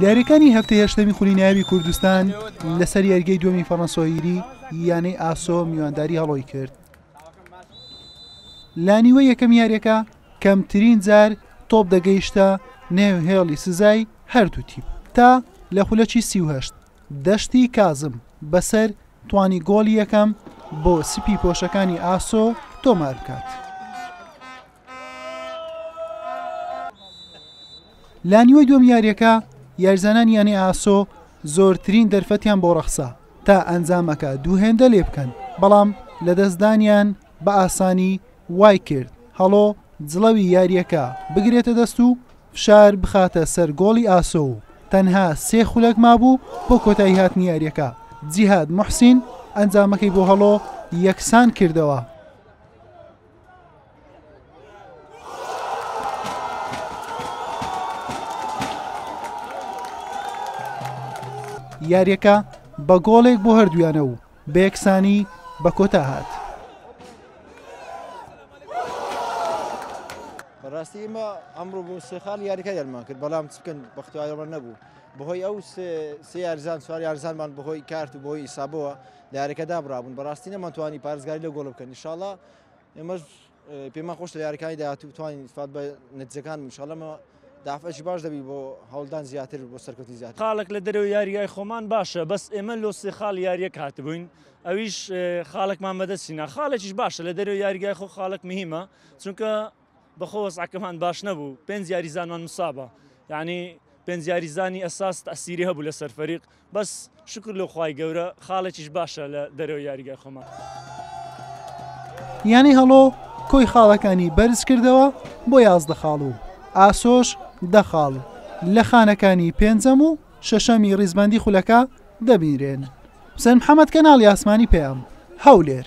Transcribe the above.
یارییەکانی هەفتەی هەشتەمی خولی نایابی کوردستان لەسەر یاریگەی دووەمی فەڕەنسۆیری یانەی ئاسۆ میوانداری هەڵۆی کرد لانیوە یەکەم یاریەکە کەمترین جار تۆپ دەگەیشتە نێو هێڵی سزای هەردوو تیپ تا لە خولەکی سیهشت دەشتی کازم بەسەر توانی گۆڵی یەکەم بۆ سپی پۆشەکانی ئاسۆ تۆمار بکات. لە نیوەی دووەم یاریەکە یارزانانی یانەی ئاسۆ زۆرترین دەرفەتیان بۆ ڕەخسا تا ئەنجامەکە دوو هێندە لێ بکەن بەڵام لە دەستدانیان بە ئاسانی وای کرد هەڵۆ جڵەوی یاریەکە بگرێتە دەست و فشار بخاتە سەر گۆڵی ئاسۆ و تەنها سێ خولەک مابوو بۆ کۆتایی هاتنی یاریەکە جیهاد محسین ئەنجامەکەی بۆ هەڵۆ یەکسان کردەوە. یاریەکە بە گۆڵێک بۆ هەردویانە و بە یەکسانی بە کۆتا هات. بەڕاستی ئمە ئەمڕۆ بۆ سێخال یاریکە دەرمان کرد بەڵام چکن بەختیارەوە نەبوو بەهۆی ئەو سێ یارزان سوار یارزانمان بەهۆی کارت و بۆی ئیسابەوە لە یاریەکە دابرابوون بەڕاستی نەمان توانی پارێزگاری لە گۆڵ بکەن انشاءاللە ئێمەش پێمان خۆش لە یاریەکانی داهاتوو بتوانین استفاد بە نەتیجەکان انشاءاللە دافعەکی باش دەبی بۆ هەوڵدان زیاتر بۆ سەرکەوتنی زیاتر خاڵێک لە دەرەوەی یاریگای خۆمان باشە بەس ئێمە لۆ سێ خاڵ یاریەک هاتبووین ئەویش خاڵێکمان بەدەستینا خاڵێکیش باشە لە دەرەوەی یاریگای خۆ خاڵێک مهمە چونکە بەخۆ وەزعەکەمان باش نەبوو پێنج یاریزانمان مسابە یعنی پێنج یاریزانی ئەساس تەسیری هەبوو لەسەر فەریق بەس شکر لۆ خوای گەورە خاڵێکیش باشە لە دەرەوە یاریگای خۆمان. یانەی هەڵۆ کۆی خاڵەکانی بەرزکردەوە بۆ یازدە خاڵ و ئاسۆش دە خاڵ لە خانەکانی پێنجەم و شەشەمی ڕیزبەندی خولەکە دەبینرێن. حوسێن محەمەد، کەناڵی ئاسمانی پەیام، هەولێر.